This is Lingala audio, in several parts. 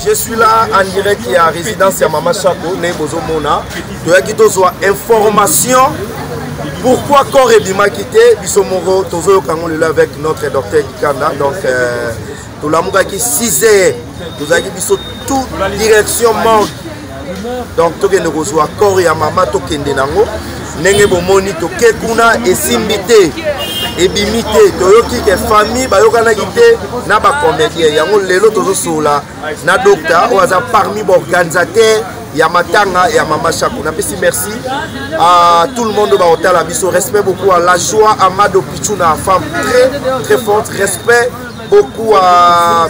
je suis là en direct ya résidence ya mama shako ndenge bozomona toyaki tozwa information pourquoi corps ebimaki te biso moko tozoyoka yango lelo avec notre docteur kikanda donc euh, tolamukaki 6 heures tozalaki biso tout direction morgue donc tokende kozwa corps ya mama tokende nango ndenge bomoni toke kuna esimbi te ebimi te toyoki ke famille bayokanaki te na bacomédien yango lelo tozosolola na docta oyo aza parmi baorganisateur ya matanga ya mama shako napesi merci à tout le monde baotala biso respect beaucoup à la joie amado pichuna femme très très forte respect beaucoup à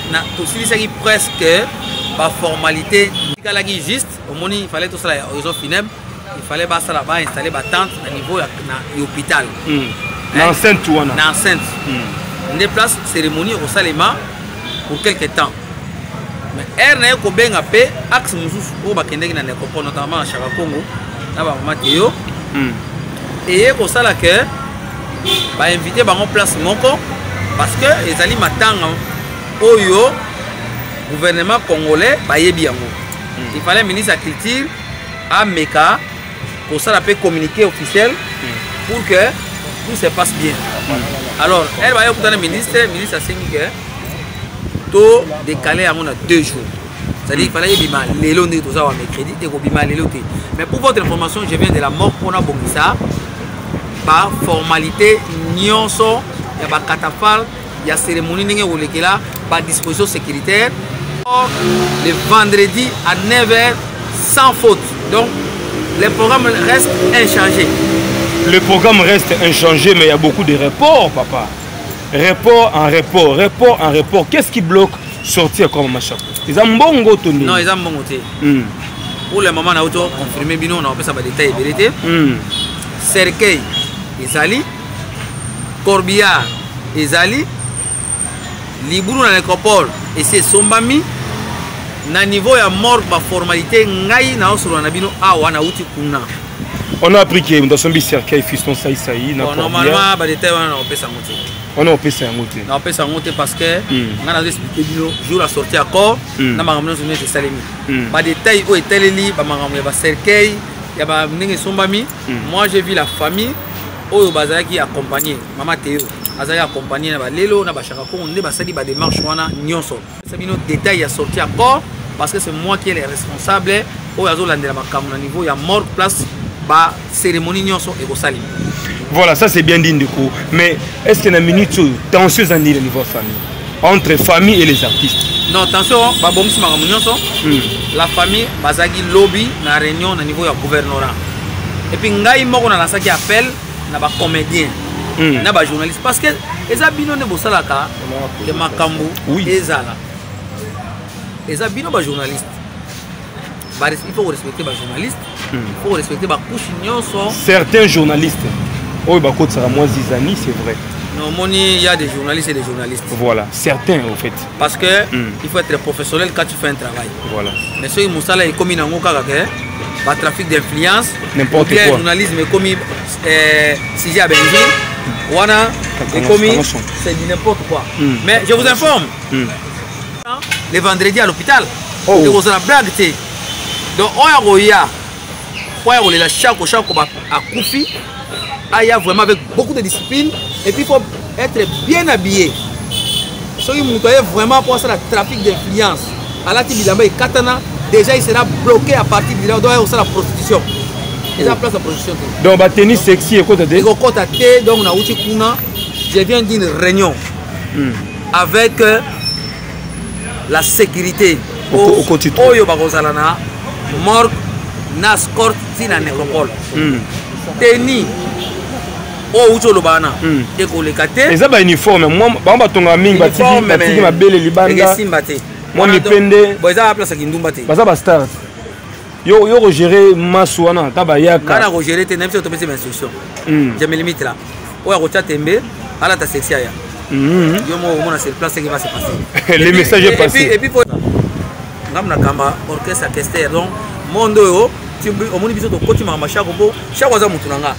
na tosilisaki presque baformalité tikalaki juste omoni fallait tosala ya horizon funèbre il fallait basala bainstalle batente na niveau ya na hôpital hmm. na enceinte wana na enceinte hmm. nde place cérémonie ekosalema pour quelque temps mais aire na ye kobenga mpe axe mosusu oyo bakendeki na necropole notamment na chaka congo na bamama teyo hmm. eye kosala que bainvite bango place moko parce que ezali matanga oyo gouvernement congolais bayebi yango hmm. il fallait ministre ya culture ameka kosala mpe communiqué officiel hmm. pour que tout se passe bien hmm. alors elle baye okutana ministre ministre asengi ke to décale yango na deux jours c'est-à-dire il fallait ebima lelo nde toza wa mercredi ekobima lelo te mais pour votre information je viens de la mort mpona abongisa baformalité nyonso ya bacatafale ya cérémonie ndenge ekolekela badisposition sécuritaire le vendredi à 9h sans faute donc le programme reste inchangé le programme reste inchangé mais il y a beaucoup de reports papa report en report report en report qu'est ce qui bloque sorti ya koma mashako eza mbongo to nini non eza mbongo te hmm. pour le moment nauti oconfirme bino na kopesa badetail ebele te hmm. cercueil ezali corbillard ezali libulu na necropole esi esombami na niveau ya morgue baformalité ngai naosolola na bino awa nauti kuna on a appris que moto asombi cercueil fiston saisai na normalement badetail wana nakopesa yango te wana opesa yango te na opesa yango te parce que hmm. ngai nazo explike bino jour la sortie accord hmm. na makambo nyonso nyonso esalemi hmm. badetail oyo etaleli bamakambo ya bacercueil ya ba ndenge esombami moi je vis la famille oyo bazalaki accompagne mama teo azalaki accompagne na balelo na bashaka kongo nde basali bademarche wana nyonso pesa bino détail ya sortie ya corps parce que c'est moi qui est le responsable oyo azolandela makambo na niveau ya morgue place bacérémonie nyonso ekosalima voilà ça c'est bien dit ndeko mais est ce que na minute oyo tension eza nini na niveau ya famille entre famille et les artistes non tension babongisi makambo nyonso hmm. la famille bazalaki lobi na réunion na niveau ya gouvernorat epuis ngai moko nalasaki appel na ba comedien mm. na ba journaliste parce que eza bino nde bosalaka ke makambo oui. ezala eza bino ba journaliste il faut respecter ba journaliste mm. il faut respecter ba couche nyonso certains journalistes oyo bakotisaka mwa zizani c'est vrai Non, moni, il y a des journalistes et des journalistes. Voilà, certains en fait. Parce que mm. il faut être professionnel quand tu fais un travail. voilà. mais soki mosala ekomi nango kaka ke batrafic d'influence bien journalisme ekomi eh, sujet ya benzine wana ekomi c'est du n'importe quoi hmm. mais je vous informe hmm. le vendredi à l'hôpital ekozala oh. blague te donc oyo akoya Mpo ya kolela Shako, Shako akufi, aya vraiment avec beaucoup de discipline, et puis il faut être bien habillé. Soki moto aye vraiment mpo asala trafic d'influence, alati bilamba ekatana, déjà il sera bloqué à partir de là, donc aya kosala prostitution. Eza place ya prostitution te. Donc ba tennis sexy ekota te? Ekokota te, donc nauti kuna, je viens d'une réunion hmm. avec euh, la sécurité oyo bakozala na morgue na scort ti na nécropole hmm. teni oyo outi oloba wana hmm. ekoleka te eza bauniforme bango batongaka mingi batiki mabele libanda ekesimba te mwa mipende eza baplace ya kindumba te baza bastar yo yo ko gérer masu wana ta ba yaka kana ko gérer te na biso topesi instruction hmm. je me limite là oya ko chatembe ala ta sexy aya hmm. yo mo mona sur place qui va se passer le message est passé et puis ngam na kamba orchestre kester donc monde oyo omoni biso tokoti makambo shako mpo shako aza motu na nga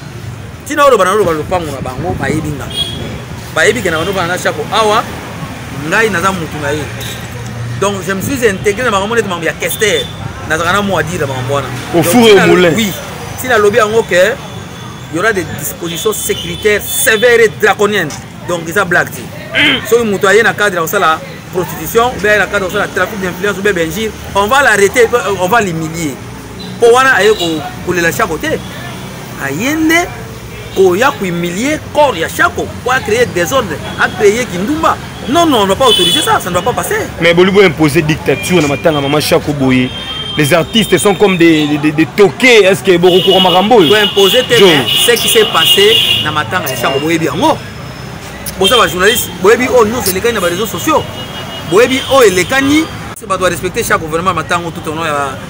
ntina oloba na oloba lopango na bango bayebi nga bayebi ke na bando bana na shako awa ngai naza motu na ye donc je me suis intégré na makambo neti makambo ya kester nazalaka na mwa dire makambo wana ofure yo moulin oui ntina alobi yango ke y aura des dispositions sécuritaires sévères et draconiennes donc eza blague te soki moto aye na cadre ya kosala prostitution ou bien aye na cadre ya kosala trafic d'influence ou bien benjire on va l'arrêter on va l'humilier mpo wana aye kolela shako te aye nde koya kohumilie corps ya shako mpo acreye desordre acreye kindumba non non on doit pas autoriser ça ça ne doit pas passer mais bolibo imposer dictature na matanga mama shako boye les artistes sont comme des, des, des toqués est ce que bokokura makambo oyo imposer te ce qui s'est passé na matanga ya shako boyebi yango boza bajournaliste boyebi oyo oh, nyonso elekani na bareseau sociaux boyebi oyo oh, elekani bato barespecte chaque gouvernement matango tout ono ya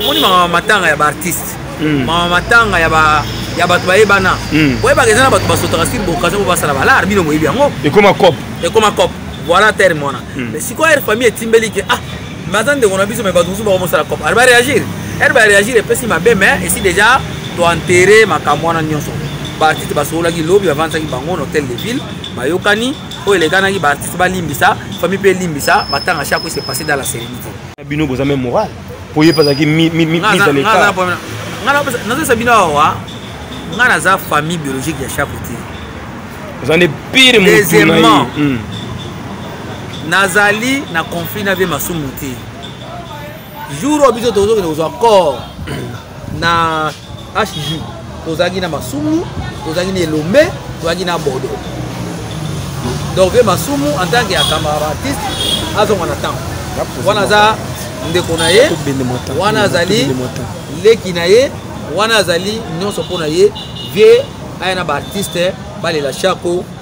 omoni mama matanga ya baartiste hmm. mama matanga ya ba ya bato bayebana hmm. boyebaka eza na bato basotaka sur boccasion po basala balar bino moyebi yango ekoma cop ekoma cop voilà terme wana hmm. mais sikoyo aire famille etimbeli ke ah baza ndeko na biso mai bato mosusu bako mosala cop ari baréagir aire baréagir epesi mabe mais esi déjà toenterre makambo wana nyonso baartiste basololaki lobi bavandisaki bango na hôtel de ville bayokani oyo elekanaki baartiste balimbisa famille mpe elimbisa matanga chaque se passe dans la sérénité bino boza meme moral po ye pazalaki nazopesa bino awa ngai naza famille biologique ya chaque te oza nde pire deuxièmement hmm. nazali na conflit na vie masumu te jour oyo biso tozokende kozwa corps na hj tozalaki na masumu tozalaki na elombe tozalaki na bodo donc vie masumu en tant que akamara artiste azonga na ntango wana aza ndeko na ye wana azali leki na ye wana azali nyonso mpo na ye vie aya na baartiste balela shako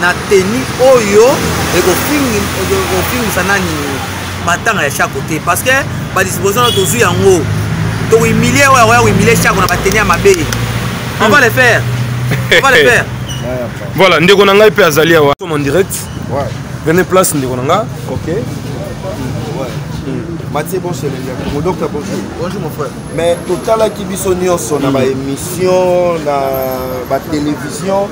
na teni oyo ekofingisa nani matanga ya shako te parce que badisposition na tozwi yango tohumilie oyo akoya kohumilie shako na bateni ya mabe on va le faire on va le faire voilà ndeko na ngai mpe azali awa en direct vene place ndeko na ngai ok Mathieu bon chez les Mon docteur bonjour. Bonjour mon frère. Mais totalaki biso nyonso na ba émission na ba télévision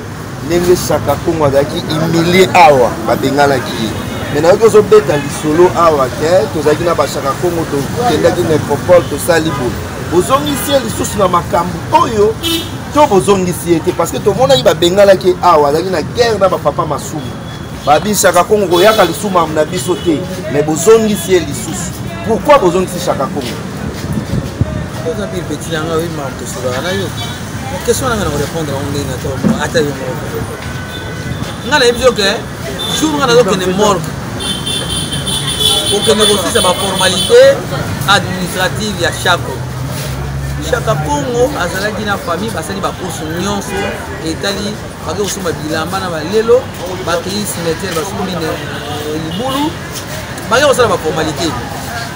ndenge shaka kongo azalaki humilie awa babenganaki ye me nayoki ozobeta lisolo awa ke tozalaki na bashaka kongo tokendaki na ecropole tosali boye bozongisi ye lisusu na makambo oyo to bozongisi ye te parce que tomonaki babenganaki awa azalaki na guerre na bapapa masumu babi shaka kongo koyaka lisumu na biso te me bozongisi ye lisusu pourquoi bozongisi shaka kongo oza mpe peti na ngai oyemaka tosolaka na yo question nanga na korepondre yango ndenge na toko ata yo moko ngai nayebi yo ke jour ngai nazokende morgue kokende kosisa baformalité administrative ya shako shaka kongo azalaki na famille basali bakurse nyonso etali bake kosomba bilamba na balelo bakei cimetière basombi eh, libulu bake kosala baformalité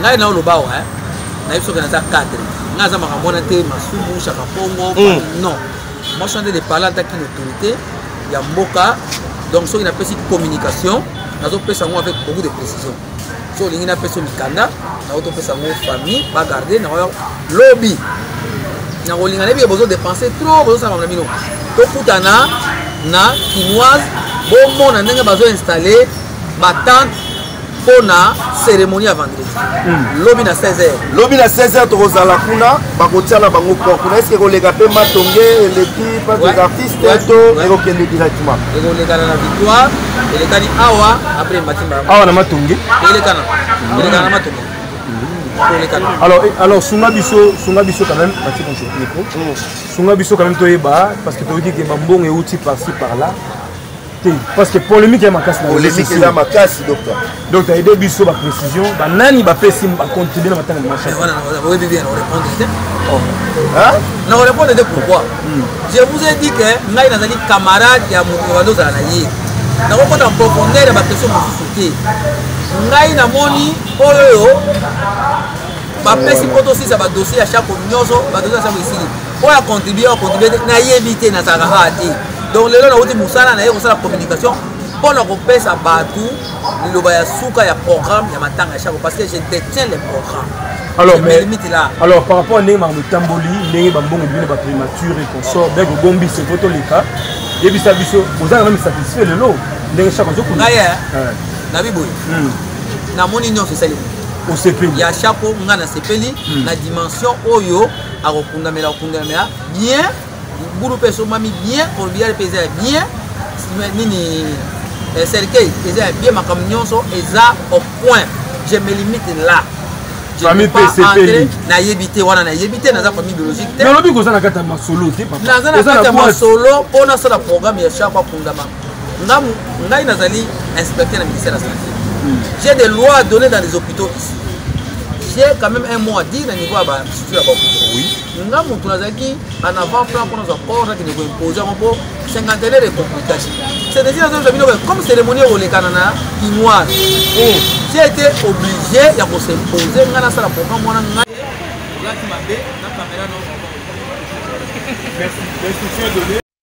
ngai na oloba wa nayebi soki naza cadre ngai aza makambo wana te masumu shaka mpongo hmm. non moi chante de parler ataki na autorité ya mboka donc soki napesi communication nazopesa yango avec beaucoup de précision so olingi napesa mikanda nao topesa yango famille bagarde nao lobi nakolinga nayebi ke bozo dépense trop bozosala na bino tokutana na kinoise bomona ndenge bazo installe batante mpo na cérémonie ya vendredi hmm. lobi na 16h lobi na 16h tokozala kuna bakotia na bango port kuna eske ekoleka mpe matonge eleki pas des artistes to ekokende directement ekolekana na victoire elekani awa après matimba awa na matonge elekana hmm. elekana na matonge hmm. alors, alors sunga biso sunga biso quand même bati bonjour micro sunga biso quand même toyeba parce que toyoki ke bambongo euti par ci par là te parce que polémique ya makasi polémique eza makasi docteur donc aide biso baprécision banani bapesi bacontribue na matanga machaoyebi bien orépondre te na orépondre te pourquoi hmm. je vous ai dit que ngai nazali camarade ya moto banda ozala na ye nakokota profondeur ya baquestion mosusu te ngai namoni oyo bapesi mpo tosisa badossier ya chako nyonso badossier ya chako esili oyo acontribue acontribue te nayebi te nazalaka haa te donc lelo nauti mosala na ye kosala communication mpo na kopesa bato liloba ya suka ya programme ya matanga ya shako parce que je détiens le programme alors mais limite là alors par rapport à ndenge makambo etamboli ndenge bambongo bino ba primature et consort bien que bombi c'est poto leka yebisa biso oza na même satisfait lelo ndenge chaque jour kuna ngai na biboye namoni nyonso esali osepeli ya chapo ngai nasepeli na dimension oyo akokundamela kokundalamela bien libulu mpe esombami bien corbial mpe eza ya bien nini eh, cercueil eza ya bien makambo nyonso eza au point je me limite là famille mpe esepeli nayebi te wana nayebi te naza famille biologique te nalobi koza na kati ya masolo te naza na kati ya masolo mpo nasala programme ya chaque akundama ngai nazali inspecteur na ministère ya santé hmm. j'ai des lois données dans les hôpitaux ici j'ai quand même un mot à dire na niveau ya bastructure ya bakutu nga motu nazalaki en avant plan mpo nazwa corps nakende koimpose yango mpo cinquantenaire de complication cetesi nazoyebisa bino comme cérémonie ekolekana na kinoise j'ai été obligé ya kosimpose ngai nasala programme wana ngai olati mabe na kamera no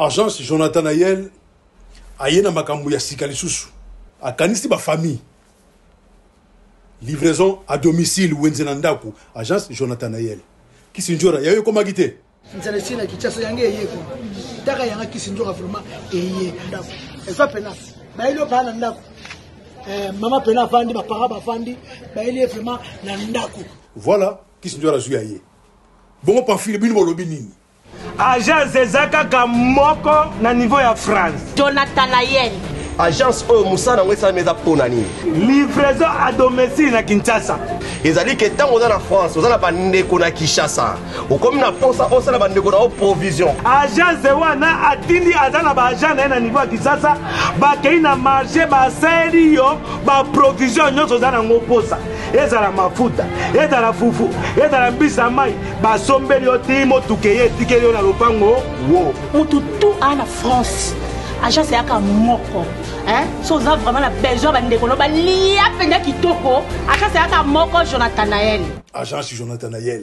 agence jonathan ayel aye na makambo ya sika lisusu akanisi bafamille livraison à domicile wenze na ndako agence jonathan ayel kisinjora yayo ekomaki te nzala esi na kinshasa yango eye ko taka yanga kisi nzoka vraiment eye ndako eza pena bayeli yo baa na ndako eh, mama pena avandi bapara bavandi bayeli ye vraiment na ndako voilà kisi nzoka nazwi ya ye bongo pamfile bino bolobi nini agence eza kaka moko na niveau ya france jonathan ayeni agence oyo mosala yango esalami eza mpo na nini livraison a domicile na kinshasa ezali ke ntango oza na france oza na bandeko na kinshasa okomi na mposa osala bandeko na yo provision agence wana atindi aza na baagent na ye na niveau ya kisasa bakei na marché basali yo baprovision nyonso oza nango mposa ezala mafuta ezala fufu ezala mbisi ya mai basombeli yo ti motuka eye etikeli yo na lopango wo motu tu aa na france agence eyaka moko so oza vraiment na besoin bandeko no balia mpenza kitoko agence eyaka moko jonathan nael agence jonathan nael